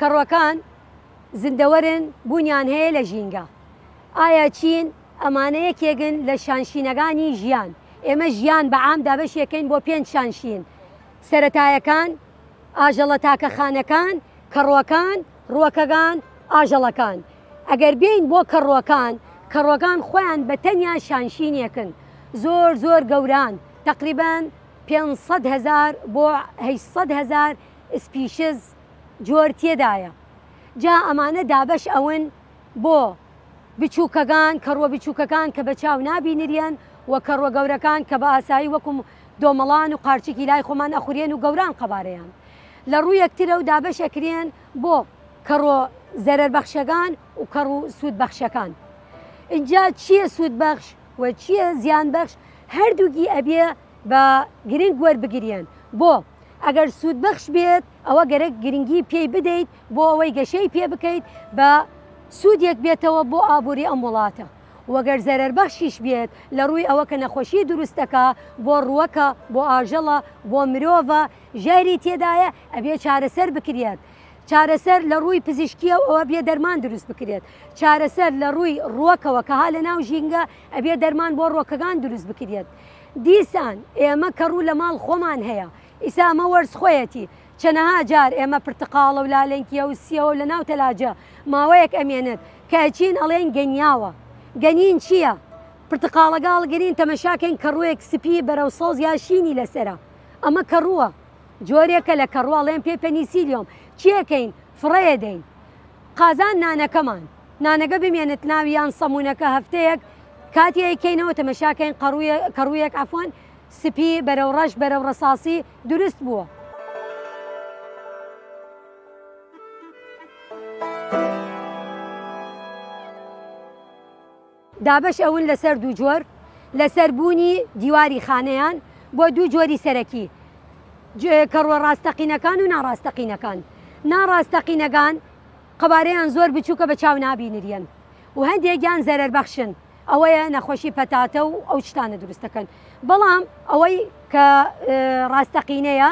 کەڕووەکان زیندەوەرن بوونیان هەیە لە ژینگە ئایا چین ئەمانە یەکێکن لە شانشینەکانی ژیان ئێمە ژیان بە عام دابەشیەکەین بۆ پێنج شانشین سەرەتایەکان ئاژەڵە تاکە خانەکان کەڕووەکان ڕووەکەگان ئاژەڵەکان ئەگەر بین بۆ کەڕووەکان کەڕووەکان خۆیان بە تەنیا شانشینیەکن زۆر زۆر گەوران تقریبا پێنج سەد هەزار بۆ هەشت سەد هەزار ئسپیشز شەست جۆر تێدایە جا ئەمانە دابەش ئەون بۆ بچوکەگان کەڕوە بچوکەکان کە بە چاو نابینریەن و کەڕوە گەورەکان کە بە ئاسایی وەکو دۆمەڵان و قارچکی لای خۆمان ئەخوریەن و گەوران قەبارەیان لە ڕوو یەکترە و دابەش ئەکریەن بۆ کەڕوە زەرەر بەخشەگان و کەڕو سود بەخشەکان ئینجا چیە سود بەخش و چیە زیان بەخش هەردوگی ئەبیە بە گرنگ وەربگریێن بۆ ئەگەر سوودبەخش بێت ئەوە گەرەک گرنگی پێی بدەیت بۆ ئەوەی گەشەی پێ بکەیت بە سوودێک بێتەوە بۆ ئابووری ئەم وڵاتە وەگەر زەرەر بەخشیش بێت لە ڕووی ئەوە کە نەخۆشی دروستەکە بۆ ڕووەکە بۆ ئاژەڵە بۆ مرۆڤە ژاری تێدایە ئەبێ چارەسەر بکرێت. چارەسەر لە ڕووی پزیشکیە و ئەوە بێ دەرمان دروست بکرێت چارەسەر لە ڕووی ڕووەکەوە کە ها لە ناو ژینگە ئەبێ دەرمان بۆ ڕۆکەکان دروست بکرێت. دیسان ئێمە کە ڕوو لە ماڵ خۆمان هەیە، ئیستا ئەمە وەرز خۆیەتی، چەنەها جار ئێمە پرتقاڵە و لالەنکیە و سیەوە و لە ناو تەلاجە ماوەیەک ئەمێنێت، کە ئەچین ئەڵێین گەنیاوە، گەنین چیە؟ پرتقاڵەگە هەڵگرین تەمەشا کەین کەڕووێک سپی بەرەو سەوز یا شینی لەسەرە، ئەمە کەڕووە، جۆرێکە لە کەڕوو ئەڵێن پێی پەنیسیلیۆم، چیەکەین؟ فڕێدەین قازان نانەکەمان. نانەکە بمێنێت ناوی یان سەمونەکە هەفتەیەک کاتی ئەیکەینەوە تەمەشاکەین کەڕوویەک ئەفۆن سپی بەرەو ڕەش بەرەو ڕساسی دروست بووە. دابەش ئەون لەسەر دوو جۆر لەسەر بوونی دیواری خانەیان بۆ دوو جۆری سەرەکی کەڕوە ڕاستەقینەکان و ناڕاستەقینەکان ناڕاستەقینەکان قەبارەیان زۆر بچووکە بە چاو نابینریەن و هەندێکیان زەرەر بەخشن ئەوەیە نەخۆشی پەتاتە و ئەو شتانە دروستەکەن بەڵام ئەوەی کە ڕاستەقینەیە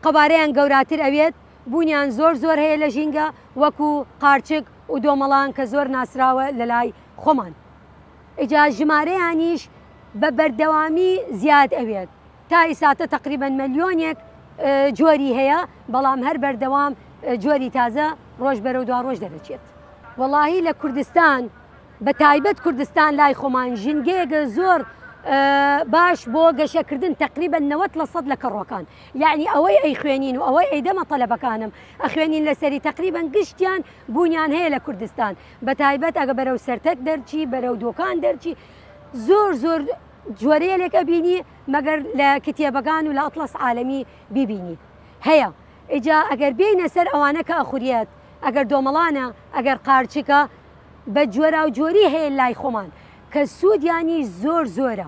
قەبارەیان گەوراتر ئەوێت بوونیان زۆر زۆر هەیە لە ژینگە وەکو قارچک ودۆمەڵان کە زۆر ناسراوە لەلای خۆمان ئیجا ژمارەیانیش بە بەردەوامی زیاد ئەوێت تا ئیساتە تەقریبەن مەلیۆنێک جۆری هەیە بەڵام هەر بەردەوام جۆری تازە ڕۆژ بەرەو دوا ڕۆژ دەدەچێت وەڵاهی لە کوردستان بە تایبەت کوردستان لای خۆمان ژینگەیەگە زۆر باش بۆ گەشەکردن تەقریبە نەوەت لە سەد لە کەڕۆکان یەعنی ئەوەی ئەیخوێنین و ئەوەی ئەیدەمە تەلەبەکانم ئەخوێنین لەسەری تەقریبەن گشتیان بوونیان هەیە لە کوردستان بەتایبەت ئەگە بەرەو سەرتەک دەرچی بەرەو دۆکان دەرچی زۆر زۆر جۆرەیەلێک ئەبینی مەگەر لە کتێبەکان و لە ئەتڵەس عالەمی بیبینی هەیە ئیجا ئەگەر بێینە سەر ئەوانە کە ئەخوریەت ئەگەر دۆمەڵانە ئەگەر قارچکە بە جۆراوجۆری هەیە لای خۆمان کە سوودیانیش زۆر زۆرە.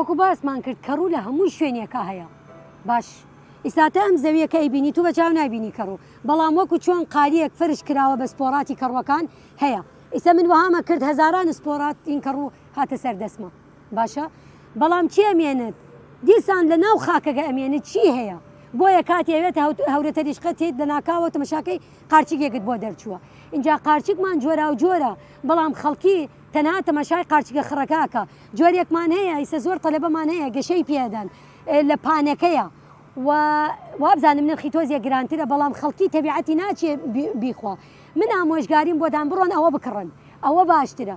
وەکو باسمان کرد کە ڕوو لە هەموو شوێنێکە هەیە باش ئیساتە ئەم زەویەکە ئەیبینی تو بە چاو نبینی کەڕوو بەڵام وەکو چۆن قاریەک فرش کراوە بە سپۆراتی کەڕوەکان هەیە ئیسە من وهامە کرد هەزاران سپۆرات این کەڕوو هاتە سەر دەسمە باشە بەڵام کێ ئەمێنێت دیسان لە ناو خاکەکە ئەمێنێت چی هەیە بۆیە کاتی ئەوێت هەورەتەریشقە تێت لە ناکاوە تەمەشاکەی قارچیکێکت بۆ دەرچووە اینجا قارچیکمان جۆرا و جۆرە بەڵام خەڵکی تەنها تەمەشای قارچیکە خڕەکەکە جۆرێکمان هەیە ئیسە زۆر تەلەبەمان هەیە گەشەی پێدەن لە پانەکەیە و وابزانم نرخی تۆزیە گرانترە بەڵام خەڵکی تەبیعەتی ناچێ بیخوا من ئامۆژگاریم بۆدان بڕۆن ئەوە بکڕن ئەوە باشترە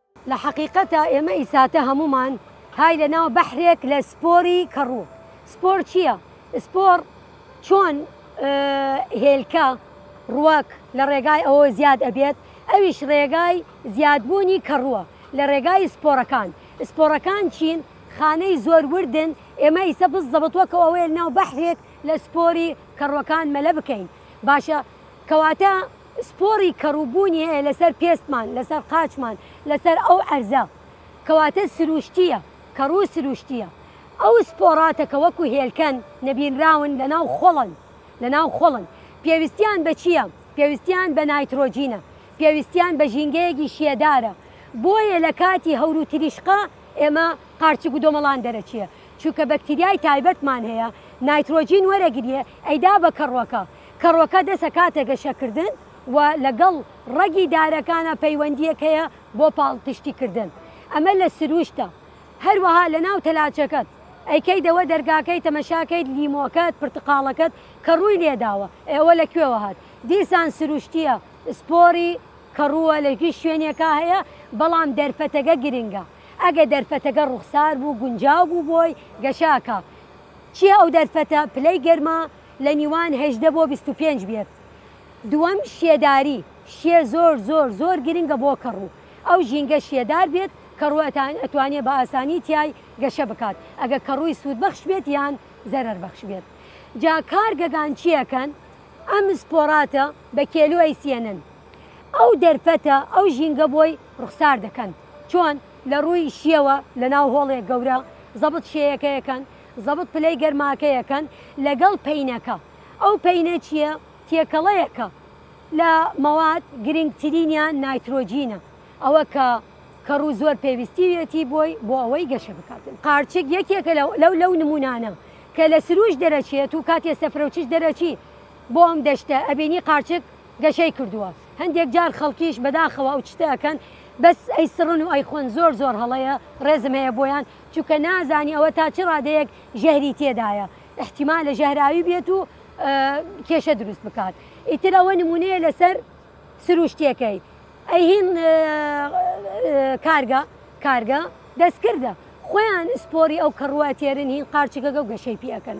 لە حەقیقەتا ئێمە ئیساتە هەموومان های لە ناو بەحرێک لە سپۆری کەڕوو. سپۆر چییە؟ سپۆر چۆن هێلکە، ڕووەک، لە ڕێگای ئەوەوە زیاد ئەبێت، ئەویش ڕێگای زیادبوونی کەڕووە لە ڕێگای سپۆرەکان. سپۆرەکان چین؟ خانەی زۆر وردن، ئێمە ئیسە بززەبت وەکو ئەوەیە لە ناو بەحرێک لە سپۆری کەڕووەکان مەلە بکەین. باشە کەواتە سپۆڕی کەڕووبوونی هەیە لەسەر پێستمان، لەسەر قاچمان، لەسەر ئەو عەرزە. کەواتە سرووشتییە، کەڕوو سرووشتییە. ئەو سپۆڕاتە کە وەکو هێلکەن، نەبینراون، لەناو خۆڵن، لەناو خۆڵن. پێویستیان بە چییە؟ پێویستیان بە نایترۆجینە، پێویستیان بە ژینگەیەکی شێدارە. بۆیە لە کاتی هەور و تریشقە ئێمە قارچک و دۆمەڵان دەرەچێ. چونکە بەکتریای تایبەتمان هەیە، نایترۆجین وەرەگریێ، ئەیدا بە کەڕووەکە. کەڕوەکە دەسە کاتێ گەشەکردن و لەگەڵ ڕەگی دارەکانا پەیوەندییەک هەیە بۆ پاڵپشتیکردن ئەمە لە سروشتە هەروەها لەناو تەلاجەکەت ئەیکەیدەوە دەرگاکەی تەمەشاکەیت لیمۆکەت پرتقاڵەکەت کە ڕووی لێداوە ئێ ئەوە لە کوێوە هات دیسان سروشتییە سپۆری کەڕووە لە گشت شوێنێکا هەیە بەڵام دەرفەتەگە گرنگە ئەگە دەرفەتەگە ڕوخسار بوو گونجاو بوو بۆی گەشاکا چییە ئەو دەرفەتە پلەی گەرما لە نیوان هەژدە بۆ بیست و پێنج بێت دووەم شێداری شێ زۆر زۆر زۆر گرنگە بۆ کەڕوو ئەو ژینگە شێدار بێت کەڕوو ئەتوانێت بە ئاسانی تیای گەشە بکات ئەگەر کەڕووی سوود بەخش بێت یان زەرەر بەخش بێت جا کارگەگان چیەکەن ئەم سپۆراتە بە کێلو ئەیسیێنن ئەو دەرفەتە ئەو ژینگە بۆی ڕوخسار دەکەن چۆن لە ڕووی شیەوە لە ناو هۆڵێک گەورە زەبت شێیەکەیەکەن زەبت پلەی گەرماکەیەکەن لەگەڵ پەینەکە ئەو پەینە چییە؟ تێکەڵەیەکە لە مەواد گرنگترینیان نایترۆجینە ئەوە کە کەڕوو زۆر پێویستیویەتی بۆی بۆ ئەوەی گەشە بکاتن قارچک یەکێکە لەو لەو نمونانە کە لە سروش دەرەچێت و کاتێ سەفرەوچش دەرەچی بۆ ئەم دەشتە ئەبینی قارچک گەشەی کردووە هەندێک جار خەڵکیش بەداخەوە ئەو چتەکەن بەس ئەی سڕن و ئەیخۆن زۆر زۆر هەڵەیە ڕێزم هەیە بۆیان چونکە نازانی ئەوە تا چ ڕادەیەک ژەهری تێدایە ئیحتیمالە ژەهراوی بێت و کێشە دروست بکات ئیتر ئەوە نمونەیە لەسەر سروشتیەکەی ئەهین کارگە کارگە دەستکردە خۆیان سپۆری ئەو کەڕوە تێرن هین قارچگەگە و گەشەی پیەکەن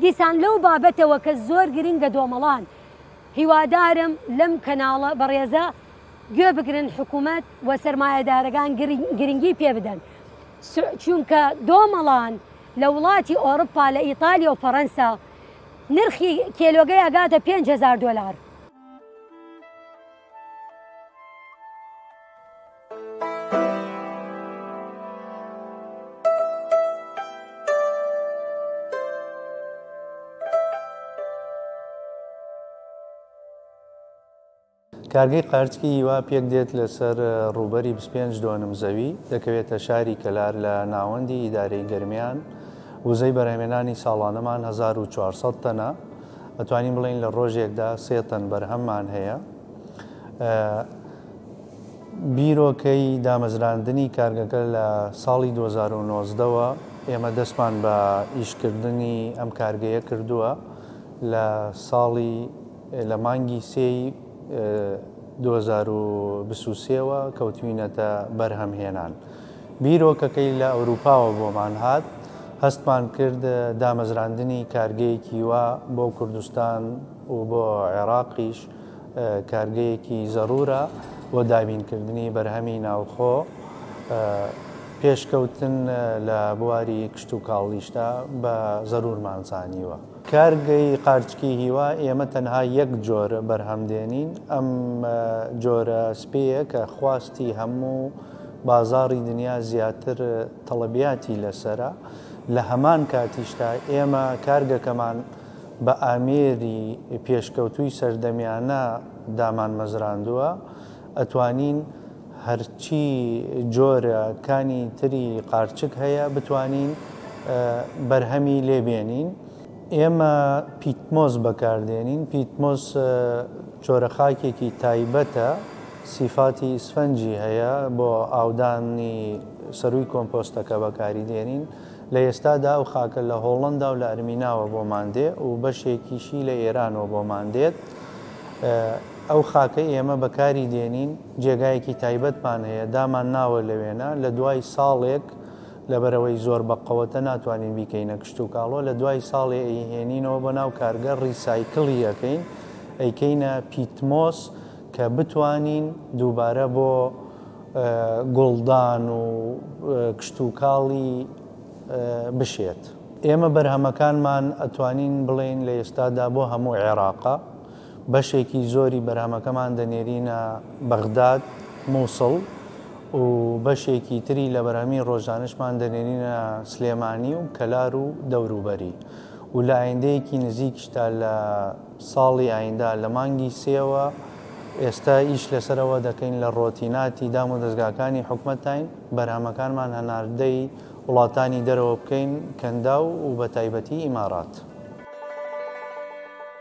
دیسان لەو بابەتەوە کە زۆر گرنگە دۆمەڵان هیوادارم لەم کەناڵە بەڕێزە گوێ بگرن حکومەت و سەرمایەدارەگان گرنگی پێ بدەن چونکە دۆمەڵان لە وڵاتی ئۆڕپا لە ئیتالیا و فەڕەنسا نرخی کێلۆگەی ئەگاتە 5هزار دۆلار. کارگەی قارچکی هیوا پێک دێت لە سەر ڕووبەری بیست و پێنج دۆنم زەوی، دەکەوێتە شاری کەلار لە ناوەندی ئیدارەی گەرمیان، وزەی بەرهەمێنانی ساڵانەمان هەزار و چوار سەد تەنە، ئەتوانین بڵێین لە ڕۆژێکدا سێ تەن بەرهەممان هەیە. بیرۆکەی دامەزراندنی کارگەکە لە ساڵی دوو هەزار و نۆزدە وە ئێمە دەستمان بە ئیش کردنی ئەم کارگەیە کردووە، لە ساڵی لە مانگی سێی دوو هەزار و بیست و سێ وە کەوتوینەتە بەرهەم هێنان بیرۆکەکەی لە ئەوروپاوە بۆمان هات هەستمان کرد دامەزراندنی کارگەیەکی وا بۆ کوردستان و بۆ عێراقیش کارگەیەکی زەرورە بۆ دابین کردنی بەرهەمی ناوخۆ پێشکەوتن لە بواری کشتوکاڵیشدا بە زەرورمان زانیوە. کارگەی قارچکی هیوا، ئێمە تەنها یەک جۆر بەرهەم دێنین، ئەم جۆرە سپێیە کە خواستی هەموو بازاڕی دنیا زیاتر تەڵەبیاتی لەسەرە، لە هەمان کاتیشدا ئێمە کارگەکەمان بە ئامێری پێشکەوتووی سەردەمیانە دامانمەزراندووە، ئەتوانین. هەرچی جۆرە کانی تری قارچک هەیە بتوانین بەرهەمی لێ بێنین ئێمە پیتمۆس بەکار دێنین پیتمۆس جۆرە خاکێکی تایبەتە سیفاتی ئیسفەنجی هەیە بۆ ئاودانی سەرووی کۆمپۆستەکە بەکاری دێنین لە ئێستادا ئەو خاکە لە هۆڵندا و لە ئەرمیناوە بۆمان دێ و بەشێکیشی لە ئێرانەوە بۆمان دێت ئەو خاکە ئێمە بەکاری دێنین جێگایەکی تایبەتمان هەیە دامان ناوە لەوێنە لە دوای ساڵێک لەبەرئەوەی زۆر بە قەوەتە ناتوانین بیکەینە کشتوکاڵۆ لە دوای ساڵێ ئەیهێنینەوە بۆ ناو کارگە ڕیسایکڵی ئەکەین ئەیکەینە پیتمۆس کە بتوانین دووبارە بۆ گوڵدان و کشتوکاڵی بشێت. ئێمە بەرهەمەکانمان ئەتوانین بڵێین لە ئێستادا بۆ هەموو عێراقە. بەشێکی زۆری بەرهەمەکەمان دەنێرینە بەغداد، موسڵ و بەشێکی تری لە بەرهەمی ڕۆژانەشمان دەنێرینە سلێمانی و کەلار و دەوروبەری و لە ئایندەیەکی نزیکیشدا لە ساڵی ئایندە لە مانگی سێوە ئێستا ئیش لەسەر ئەوە دەکەین لە ڕۆتیناتی دامودەزگاکانی حکومەتاین بەرهەمەکانمان هەناردەی وڵاتانی دەرەوە بکەین کەنداو و بەتایبەتی ئیمارات.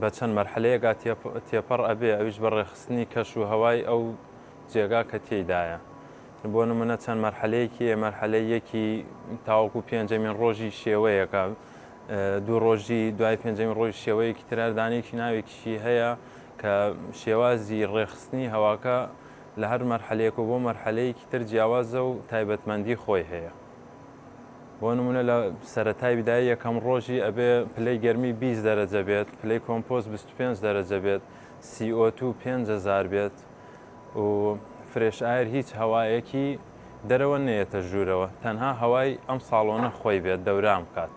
بە چەند مەرحەلەیەکا تێپەڕ ئەبێ ئەویش بە ڕێخستنی کەش و هەوای ئەو جێگا کە تێیدایە بۆ نمونە چەند مەرحەلەیەکی مەرحەلەی یەکی تاوەکو پێنجەمین ڕۆژی شێوەیەەکە دوو ڕۆژی دوای پێنجەمین ڕۆژ شێوەیەکی تراردانێکی ناوێکیشی هەیە کە شێوازی ڕێخستنی هەواکە لە هەر مەرحەلەیەک و بۆ مەرحەلەیەکی تر جیاوازە و تایبەتمەندی خۆی هەیە. بۆ نمونە لە سەرەتای بدای یەکەم ڕۆژی ئەبێ پلەی گەرمی 20 دەرەجە بێت پلەی کۆمپۆست 25 دەرەجە بێت CO2 پێنج هەزار بێت و فرێش ئایر هیچ هەوایەکی دەرەوە نەیەتە ژوورەوە تەنها هەوای ئەم ساڵۆنە خۆی بێت دەوران بکات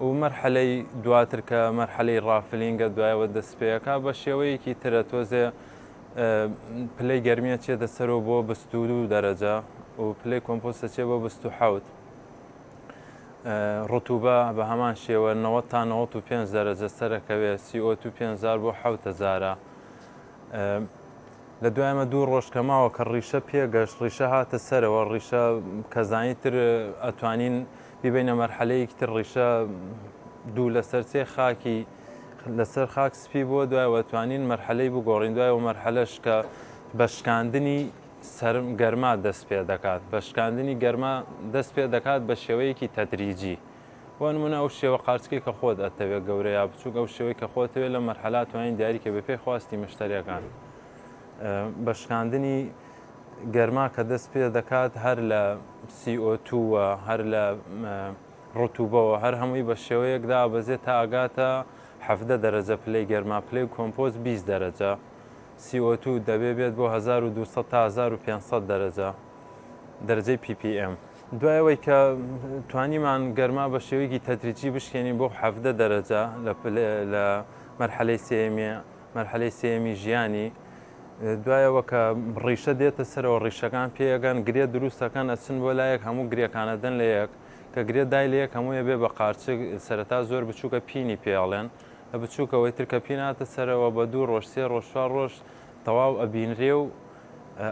و مەرحەلەی دواتر کە مەرحەلەی ڕافلینگە دوایەوە دەست پێەکە بە شێوەیەکی ترە تۆزێ پلەی گەرمی ئەچێتە سەر و بۆ بست و دوو دەرەجە و پلەی کۆمپۆست ئەچێ بۆ بست و حوت ڕتوبە بە هەمان شێوە 90 تا 95 دەرەجە سەرەکەوێت سیۆ تو 500 بۆ حوتەزارە لە دوایمە دوو ڕۆژ کە ماوە کە ڕیشە پێگەشت ڕیشە هاتە سەرەوە ڕیشە کەزانی تر ئەتوانین بیبینە مەرحەلەیەکی تر ڕیشە دوو لەسەر سێ خاکی لەسەر خاک سپی بووە، دوایەوە توانین مەرحەلەی بگۆڕین، دوایەوە مەرحەلەش کە بە شکاندنی سەرم گەرما دەست پێ دەکات، بە شکاندنی گەرما دەست پێ دەکات بە شێوەیەکی تەدریجی، بۆ نموونە ئەو شێوە قارچکەی کە خۆت ئەتەوێت گەورە یا بچووک، ئەو شێوەی کە خۆتەوێت لە مەرحەلا توانین دیاری کە بەپێی خواستی مشتەریەکان بە شکاندنی گەرما کە دەست پێ دەکات هەر لە CO2 وە هەر لە ڕتوبەوە هەر هەمووی بە شێوەیەک دابەزێت تا ئەگاتە حەڤدە دەرەجە پلەی گەرما پلەی کۆمپۆست بیست دەرەجە سی ئۆ توو دەبێ بێت بۆ هەزار و دوو سەد تا هەزار و پێنج سەد دەرەجە دەرەجەی پی پی ئێم دوای ئەوەی کە توانیمان گەرما بە شێوەیەکی تەدریجی بشکێنین بۆ حەڤدە دەرەجە لە مەرحەلەی سێمی مەرحەلەی سێمی ژیانی دوایەوە کە ڕیشە دێتە سەرەوە ڕیشەکان پێگەن گرێ دروستەکەن ئەچن بۆ لایەک هەموو گرێکانە دەن لە یەک کە گرێ دای لە یەک هەمووی ئەبێ بە قارچک، سەرەتا زۆر بچووکە پینی پێ ئەڵێن، لە بچووکەوەی تر کە پین هاتە سەرەوە بە دوو ڕۆژ سێ ڕۆژ چوار ڕۆژ تەواو ئەبینرێ و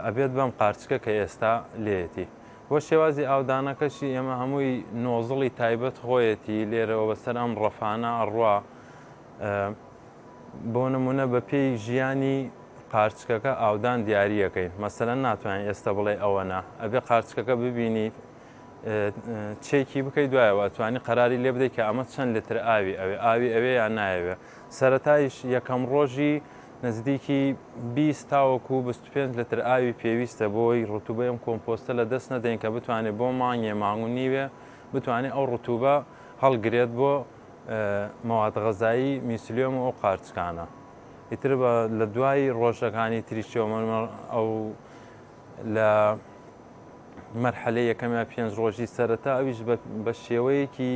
ئەبێت بەم قارچکە کە ئێستا لێیەتی. بۆ شێوازی ئاودانەکەشی ئێمە هەمووی نۆزڵی تایبەت خۆیەتی لێرەوە بەسەر ئەم ڕەفانە ئەڕوا بۆ نموونە بە پێی ژیانی قارچکەکە ئاودان دیارییەکەین مەسەلەن ناتوانین ئێستا بڵێ ئەوەنە ئەبێ قارچکەکە ببینی چێکی بکەی دوایەوە توانی قەراری لێ بدەیت کە ئەمە چەند لتر ئاوی ئەوێ ئاوی ئەوێ یان نایەوێ سەتایش یەکەم ڕۆژی نزدیکی 20 تاوەکو 25 لتر ئاوی پێویستە بۆی ڕتوبە ئەم کۆمپۆستە لە دەست نەدەین کە بتوانێت بۆ مانگێ مانگ و نیوێ بتوانێت ئەو ڕتوبە هەڵگرێت بۆ مەواد غەزایی میسلیۆم و ئەو قارچکانە ئیتر بە لە دوای ڕۆژەکانی تریشەوە ئەو لە مەرحەلەی یەکەم یا پێنج ڕۆژی سەرەتا ئەویش بە شێوەیەکی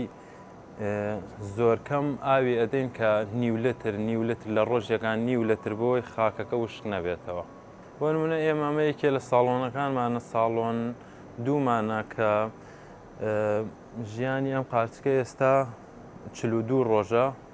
زۆرکەم ئاوی ئەدەین کە نیولتر نیولتر لە ڕۆژێکان نیولتر بۆی خاکەکە وشک نەبێتەوە بۆنمونە ئێمامە یەکێ لە ساڵۆنەکانمانە ساڵۆن دوومانە کە ژیانی ئەم قارچکە ئێستا چلو دوو ڕۆژە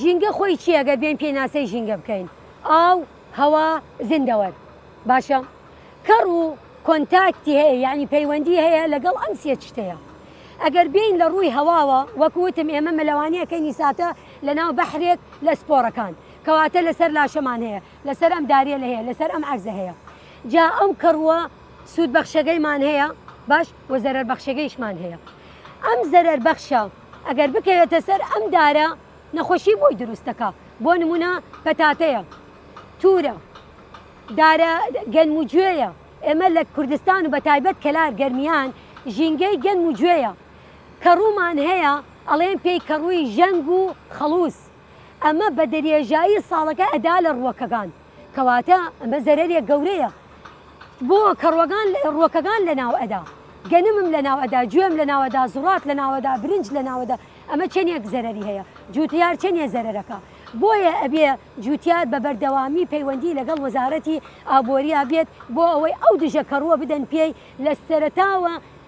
ژینگە خۆی چییە گەر بێن پێناسەی ژینگە بکەین ئاو هەوا زیندەوەر باشە کەڕ و کۆنتاکتی هەیە یعنی پەیوەندی هەیە لەگەڵ ئەم سێ شتەیە ئەگەر بین لە ڕووی هەواوە وەکوتم ئێمە مەلەوانیەکەی نیساتە لە ناو بەحرێک لە سپۆرەکان کەواتە لەسەر لاشەمان هەیە لەسەر ئەم داریە لە هەیە لەسەر ئەم عەرزە هەیە جا ئەم کەڕووە سوود بەخشەکەیمان هەیە باش و زەرەر بەخشەکەیشمان هەیە ئەم زەرەر بەخشە ئەگەر بکەوێتە سەر ئەم دارە نەخۆشی بۆی دروستەکە بۆ نمونە پەتاتەیە تورە دارە گەنم و گوێیە ئێمە لە کوردستان و بە تایبەت کەلار گەرمیان ژینگەی گەنم و گوێیە کە ڕوومان هەیە ئەڵێن پێی کە ڕووی ژەنگ و خەڵوز ئەمە بە درێژایی ساڵەکە ئەدا لە ڕووەکەکان کەواتە ئەمە زەرەرێک گەورەیە بۆ کەڕوەگان ڕووەکەکان لە ناو ئەدا گەنمم لە ناوەدا گوێم لە ناوەدا زوڕات لە ناوەدا برنج لە ناوەدا ئەمە چەندێک زەرری هەیە جوتیار چەندێ زەرەکە بۆیە ئەبێ جوتیار بە بەردەوامی پەیوەندی لەگەڵ وەزارەتی ئابۆریا بێت بۆ ئەوەی ئەو دژە کەڕووە بدەن پێی لە سەرتاوە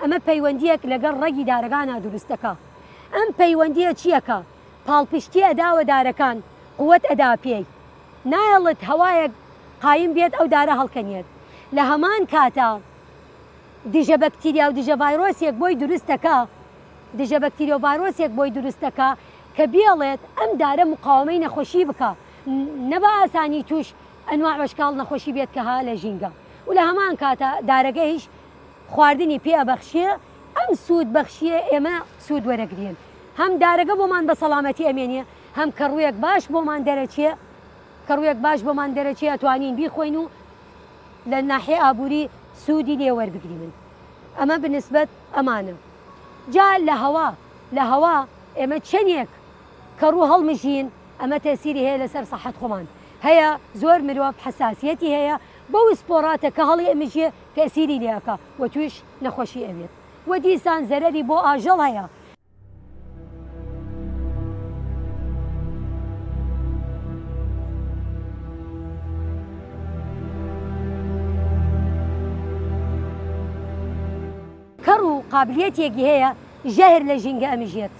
ئەمە پەیوەندیەک لەگەڵ ڕەگی دارەکانا دروست دەکا ئەم پەیوەندیە چیە کە پاڵپشتی ئەداوە دارەکان قوت ئەدا پێی نایەڵت هەوایەک قایم بیەت ئەو دارە هەڵکەنیەت لە هەمان کاتا دژە بەکتیریا و دژە ڤایرۆسیەک بۆی دروست دەکا دژە بەکتیریا و ڤایرۆسیەک بۆی دروست دەکا کە بیەڵێت ئەم دارە مقاومەی نەخۆشی بکا نە بە ئاسانی توش ئەنواع وەشکاڵ نەخۆشی بێت کە ها لە ژینگە و لە هەمان کاتا دارەگەیش خواردنی پێ ئەبەخشێ ئەم سوود بەخشیە ئێمە سوود وەرەگرێن هەم دارەگە بۆمان بە سەڵامەتی ئەمێنێ هەم کە ڕوویەک باش بۆمان دەرەچێ کە ڕوویەک باش بۆمان دەرەچێ ئەتوانین بیخۆین و لە ناحێ ئابووری سوودی لێ وەربگری من ئەمە بنسبەت ئەمانە جا لە هەوا لە هەوا ئێمە چەندێک کە ڕوو هەڵمژین ئەمە تەسیری هەیە لەسەر سەحەت خۆمان هەیە زۆر مرۆڤ حساسیەتی هەیە بەو سپۆڕاتە کە هەڵی ئەمژێ تەئسیری لێ ئەکا و تویش نەخوەشی ئەبێت و دیسان زەرەری بۆ ئاژەڵ هەیە. کەڕ و قابلیەتیەکی هەیە ژەهر لە ژینگە ئەمژێت.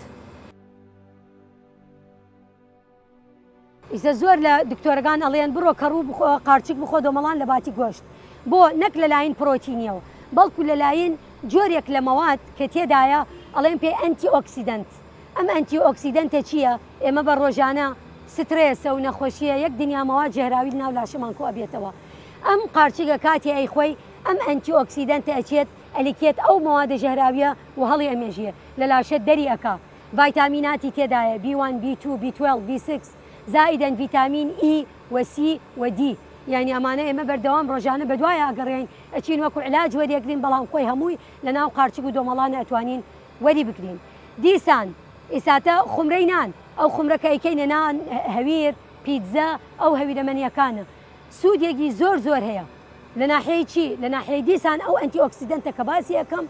ئیسە زۆر لە دکتۆرەکان ئەڵێن بڕۆ کەڕوو بخۆ قارچک بخۆ دۆمەڵان لە باتی گۆشت بۆ نەک لەلاین پرۆتینیەوە بەڵکو لەلاین جۆرێک لە مەواد کە تێدایە ئەڵێن پێ ئەنتی ئۆکسیدەنت ئەم ئەنتی ئۆکسیدەنتە چییە ئێمە بە ڕۆژانە سترێسە و نەخۆشیە یەک دنیا مەواد ژەهراوی ناو لاشەمان کۆ ئەبێتەوە ئەم قارچکە کاتی ئەیخۆی ئەم ئەنتی ئۆکسیدەنتە ئەچێت ئەلیکێت ئەو مەوادە ژەهراویە و هەڵی ئەمێژێ لە لاشە دەری ئەکا ڤایتامیناتی تێدایە، بی وان، بی توو، بی توێڵڤ، بی سیکس، زائیدەن ڤیتامین ئی و سی و دی. یانی ئەمانە ئێمە بەردەوام ڕۆژانە بەدوایە ئەگەڕێین، ئەچین وەکو علاج وەریەگرین بەڵام خۆی هەمووی لەناو قارچک و دۆمەڵا نەئەتوانین وەری بگرین. دیسان ئیساتە خومرەی نان، ئەو خومرە کە ئەیکەینە نان، هەویر، پیتزا، ئەو هەویرە مەنیەکانە سوودێگی زۆر زۆر هەیە لە ناحیەی چی؟ لە ناحیەی دیسان ئەو ئەنتی ئۆکسیدەنتە کە باسی ئەکەم،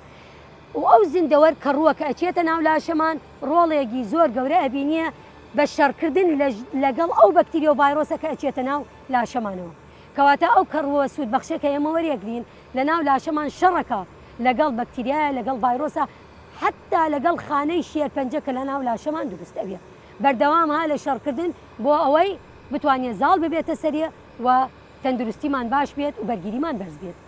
و ئەو زیندەوەر کەڕووە کە ئەچێتە ناو لاشەمان ڕۆڵێگی زۆر گەورە ئەبینیە بە شەڕکردن لەگەڵ ئەو بەکتریەو ڤایرۆسە کە ئەچێتە ناو لاشەمانەوە کەواتە ئەو کەڕووە سوود بەخشە کە ئێمە وەریەگرین لە ناو لاشەمان شەڕەکا لەگەڵ بەکتریایە لەگەڵ ڤایرۆسە حەتا لەگەڵ خانەی شێرپەنجە کە لە ناو لاشەمان دروست ئەبێ بەردەوام ها لە شەڕکردن بۆ ئەوەی بتوانێ زاڵ ببێتە سەرێ و تەندروستیمان باش بێت و بەرگیریمان بەرز بێت.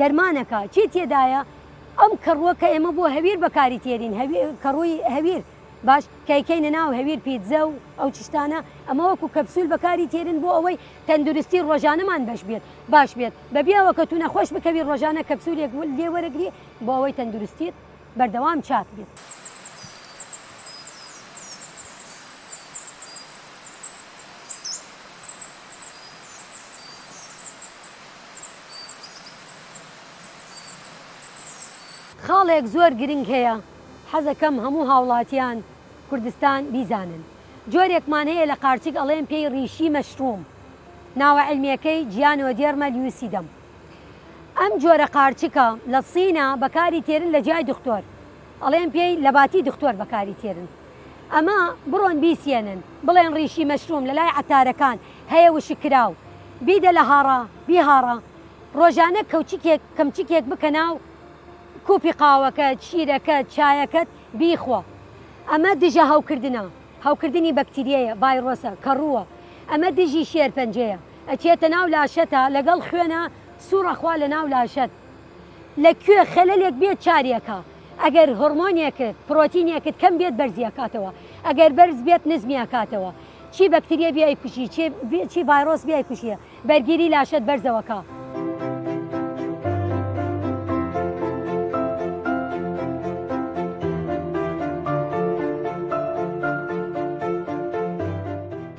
دەرمانەکە چی تێدایە؟ ئەم کەڕووە کە ئێمە بۆ هەویر بەکاری تێرین هەوی کەڕووی هەویر باش کەیکەینە ناو هەویر پیتزە و ئەو چشتانە ئەمە وەکو کەپسول بەکاری تێرن بۆ ئەوەی تەندروستی ڕۆژانەمان بەش بێت باش بێت بەبێ ئەوە کە تو نەخۆش بکەوی ڕۆژانە کەپسولێک لێ وەرەگری بۆ ئەوەی تەندروستیت بەردەوام چاک بێت. خاڵێک زۆر گرنگ هەیە حەزەکەم هەموو هاوڵاتیان کوردستان بیزانن جۆرێکمان هەیە لە قارچک ئەڵێن پێی ڕیشی مەشروم ناوە عیلمیەکەی جیانۆدێرمە لیوسیدەم ئەم جۆرە قارچکە لە سینە بەکاری تێرن لە جای دختۆر ئەڵێن پێی لەباتی دختۆر بەکاری تێرن. ئەمە بڕۆن بیسیێنن بڵێن ڕیشی مەشروم لەلای عەتارەکان هەیە وشک کراو بیدە لە هاڕا بیهاڕە ڕۆژانە کەوچکێک کەمچکێک بکە ناو کوپی قاوەکەت شیرەکەت چایەکەت بیخۆ ئەمە دژە هەوکردنە هەوکردنی بەکتریەیە ڤایرۆسە کەڕووە ئەمە دژی شێرپەنجەیە ئەچێتە ناو لاشەتا لەگەڵ خوێنە سوڕە خوا لە ناو لاشەت لە کوێ خەلەلێک بێت چاریەکا. ئەگەر هۆڕمۆنێکت پڕۆتینێکت کەم بێت بەرزی ئەکاتەوە ئەگەر بەرز بێت نزمی ئەکاتەوە چی بەکتریە بیای کوژی چی ڤایرۆس بیای کوژیە بەرگیری لاشەت بەرزەوەکە.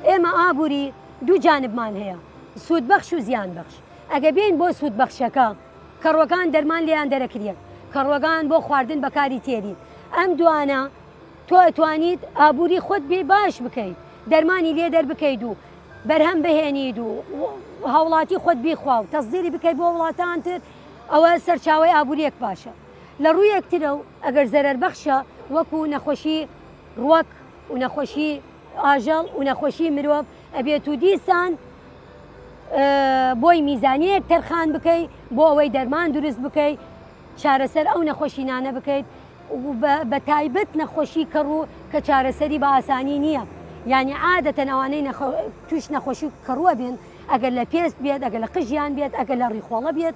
ئێمە ئابووری دوو جانبمان هەیە سوود بەخش و زیان بەخش ئەگە بین بۆ سوود بەخشەکە کەڕوەکان دەرمان لێیان دەرەکریەن کەڕوەکان بۆ خواردن بەکاری تێرین ئەم دوانە تۆ ئەتوانیت ئابووری خۆت بێ باش بکەیت دەرمانی لێ دەربکەیت و بەرهەم بهێنیت و هاوڵاتی خۆت بیخوا و تەزدیری بکەیت بۆ وڵاتان تر ئەوە سەرچاوی ئابووریەک باشە لە ڕوویەک ترە و ئەگەر زەرەر بەخشە وەکو نەخۆشی ڕوەک و نەخۆشی ئاژەڵ و نەخۆشی مرۆڤ ئەبێت و دیسان بۆی میزانیەک تەرخان بکەیت بۆ ئەوەی دەرمان دروست بکەیت چارەسەر ئەو نەخۆشینانە بکەیت بە تایبەت نەخۆشی کەڕ و کە چارەسەری بە ئاسانی نییە یعنی عادەتەن ئەوانەی توش نەخۆشی کەڕووە بێن ئەگەر لە پێست بێت ئەگەر لە قژیان بێت ئەگەر لە ڕیخۆڵە بێت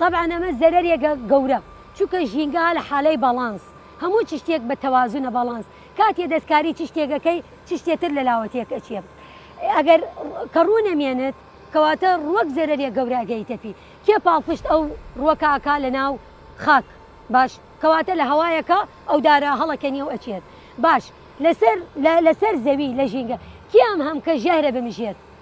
تەبعەن ئەمە زەرەرێگە گەورە چونکە ژینگە هە لە حالەی باڵانس هەموو چشتێک بە تەوازونە باڵانس کاتێ دەستکاری چشتێک ئەکەی چشتێ تر لە لاوە تێک ئەچێ ئەگەر کە ڕوو نەمێنت کەواتە ڕووەک زەرەرێ گەورە ئەگەیتە پی کێ پاڵپشت ئەو ڕووەکە ئەکا لە ناو خاک باش کەواتە لە هەوایەکە ئەو دارە هەڵەکەنیە و ئەچێت باش لەسەر لە لەسەر زەوی لە ژینگە کێ ئەم هەم کە ژەهرە بمژێت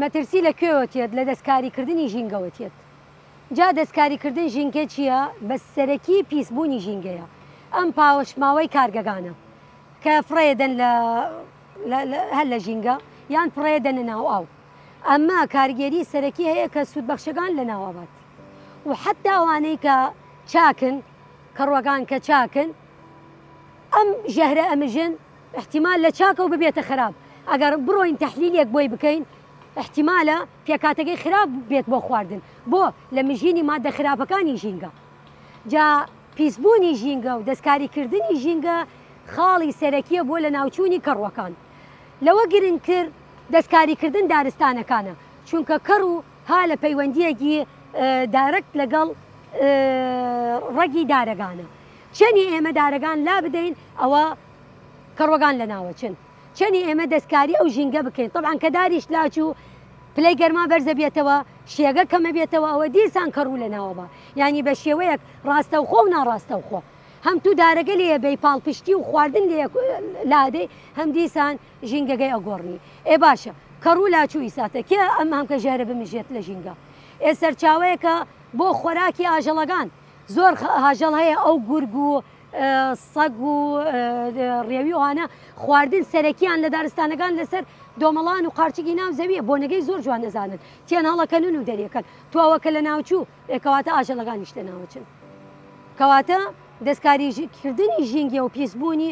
مەترسی لە کوێوە تێت لە دەستکاری کردنی ژینگەوە تێت جا دەستکاری کردن ژینگە چیە بەس سەرەکی پیس بوونی ژینگەیە ئەم پاوەشماوەی کارگەگانە کە فڕێ دەن لە هەر لە ژینگە یان فڕێ دەنە ناو ئاو ئەمە کارگێری سەرەکی هەیە کە سوود بەخشەکان لە ناوابات و حتا ئەوانەی کە چاکن کەڕوەکان کە چاکن ئەم ژەهرە ئەمژن ئیحتیمال لە چاکەوە ببێتە خەراپ ئەگەڕ بڕۆین تەحلیلێک بۆی بکەین ئیحتیمالە پێکاتەکەی خراپ بێت بۆ خواردن بۆ لە مژینی مادە خراپەکانی ژینگە جا پیسبوونی ژینگە و دەستکاری کردنی ژینگە خاڵی سەرەکیە بۆ لە ناوچوونی کەڕووەکان لەوە گرنگتر دەستکاری کردن دارستانەکانە چونکە کەڕ و ها لە پەیوەندیەکی دارەکت لەگەڵ ڕەگی دارەگانە چەنی ئێمە دارەگان لا بدەین ئەوە کەڕوەگان لەناوە چن چەنی ئێمە دەستکاری ئەو ژینگە بکەین طبعا کە داریش لاچ و پلەی گەرما بەرزە بێتەوە شێگە کەمە بێتەوە ئەوە دیسان کەڕوو لە ناوەبا یعنی بە شێوەیەک ڕاستەوخۆ و ناڕاستەوخۆ هەم تو دارەگە لێ بەی پاڵپشتی و خواردن لێ لادەی هەم دیسان ژینگەگەی ئەگۆڕنی ئێ باشە کەڕوو لاچوو ئیساتە کێ ئەم هەم کە ژێرە بمژێت لە ژینگە ئێ سەرچاوەیەکە بۆ خۆراکی ئاژەڵەکان زۆر هاژەڵ هەیە ئەو گورگ و سەگ و ڕێوی ئەوانە خواردن سەرەکیان لە دارستانەکان لەسەر دۆمەڵان و قارچکی ناو زەویە بۆنەگەی زۆر جوان نەزانن تیان هەڵەکەنون و دەریەکەن تواوە کە لە ناوچوو ئێکەواتە ئاژەڵەکانیش لە ناوچن کەواتە دەستکاریکردنی ژینگە و پیسبوونی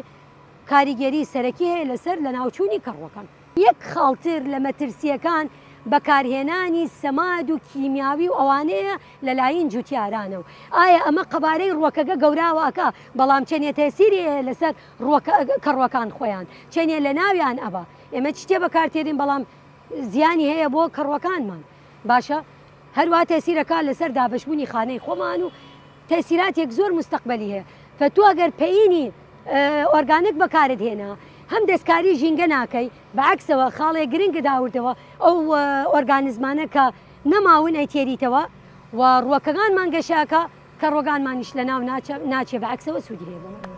کاریگەری سەرەکی هەیە لەسەر لە ناوچوونی کەڕوەکان. یەک خاڵ تر لە مەترسییەکان بەکارهێنانی سەماد و کیمیاوی و ئەوانەیە لە لاین جوتیارانە و ئایا ئەمە قەبارەی ڕوەکەگە گەوراوە ئەکا بەڵام چەنێ تەسیری ئەیە لەسەر ڕوەکە کەڕوەکان خۆیان چەنێ لە ناویان ئەبا ئێمە چتێ بەکارتێرین بەڵام زیانی هەیە بۆ کەڕوەکانمان باشە هەروا تەسیرەکان لەسەر دابەشبوونی خانەی خۆمان و تەئسیراتێک زۆر موستەقبەلی هەیە کە تۆ گەر پەیینی ئۆرگانک بەکارت هێنا هەم دەستکاری ژینگە ناکەی بەعەکسەوە خاڵێ گرنگت ئاوردەوە ئەو ئۆرگانزمانە کە نەماون ئەیتێریتەوە و ڕووەکەکانمان گەشەکە کە ڕۆگانمانیش لەناو ناچێ بەعەکسەوە سوودی هەیە بۆمان.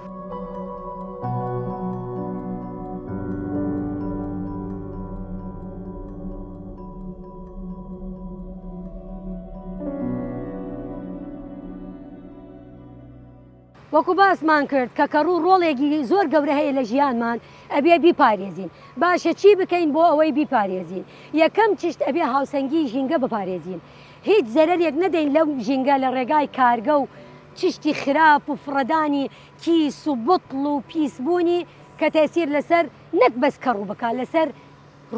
وەکو باسمان کرد کە کەڕوو ڕۆڵێکی زۆر گەورە هەیە لە ژیانمان ئەبێ بیپارێزین باشە چی بکەین بۆ ئەوەی بیپارێزین یەکەم چشت ئەبێ هاوسەنگی ژینگە بپارێزین هیچ زەرەرێک نەدەین لەو ژینگە لە ڕێگای کارگە و چشتی خراپ و فڕەدانی کیس و بطل و پیسبوونی کە تەسیر لەسەر نەک بەس کەڕوو بک لەسەر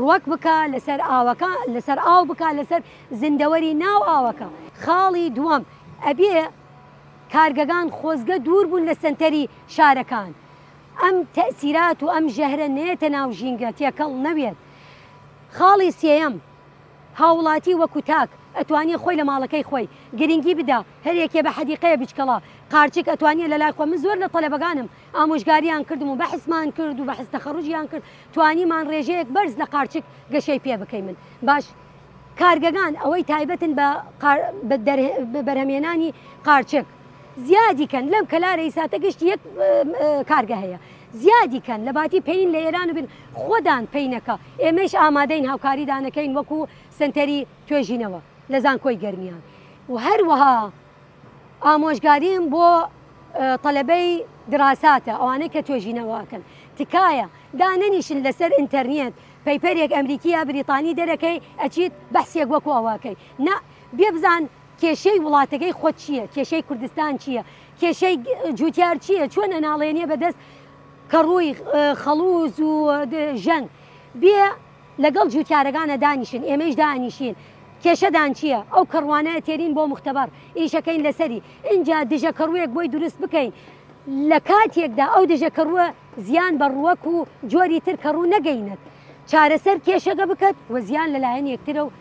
ڕوەک بکە لەسەر ئاوەکە لەسەر ئاو بکە لەسەر زیندەوەری ناو ئاوەکە. خاڵی دووەم، ئەبێ کارگەگان خۆزگە دوور بوون لە سەنتەری شارەکان، ئەم تەئسیرات و ئەم ژەهرە نەیەتە ناو ژینگە، تێکەڵ نەوێت. خاڵی سێیەم، هاوڵاتی وەکو تاک ئەتوانیە خۆی لە ماڵەکەی خۆی گرنگی بدا، هەر یەکێ بە حەدیقەیە بچکەڵە قارچک ئەتوانیە لە لای خۆ من زۆر لە تەلەبەگانم، ئامۆژگاریان کردم و بەحسمان کرد و بەحس تەخەڕوجیان کرد توانیمان ڕێژەیەک بەرز لە قارچک گەشەی پێ بکەیمن باش کارگەگان ئەوەی تایبەتن بە بەرهەمێنانی قارچک زیادی کەن لەم کەلارەی ساتە گشت یەک کارگە هەیە زیادی کەن لە باتی پێین لە ئێران و بن خۆدان پینەکە ئێمەش ئامادەین هاوکاری دانەکەین وەکو سنتەری توێژینەوە لە زانکۆی گەرمیان و هەروەها ئامۆژگاریم بۆ تەلەبەی دراساتە ئەوانەی کە توێژینەوەکەن تکایە دا نەنیشن لەسەر ئینتەرنێت پەیپەرێک ئەمریکی یا بریتانی دەرەکەی ئەچیت بەحسێک وەکو ئەوەکەی نا بێ بزان کێشەی وڵاتەکەی خۆت چییە کێشەی کوردستان چییە کێشەی جوتیار چییە چۆن ئەناڵێنیە بەدەست کە ڕووی خەڵوز و ژەنگ بێ لەگەڵ جووتیارەگانە دانیشن ئێمەیش دائەنیشین کێشەدان چییە ئەو کەڕوانە ئەتێرین بۆ موختەبەڕ ئیشەکەین لەسەری ئینجا دژە کەڕووێک بۆی دروست بکەین لە کاتێکدا ئەو دژە کەڕووە زیان بە ڕووەک و جۆری تر کەڕوو نەگەینێت چارەسەر کێشەگە بکەت و زیان لەلایەن یەکترە و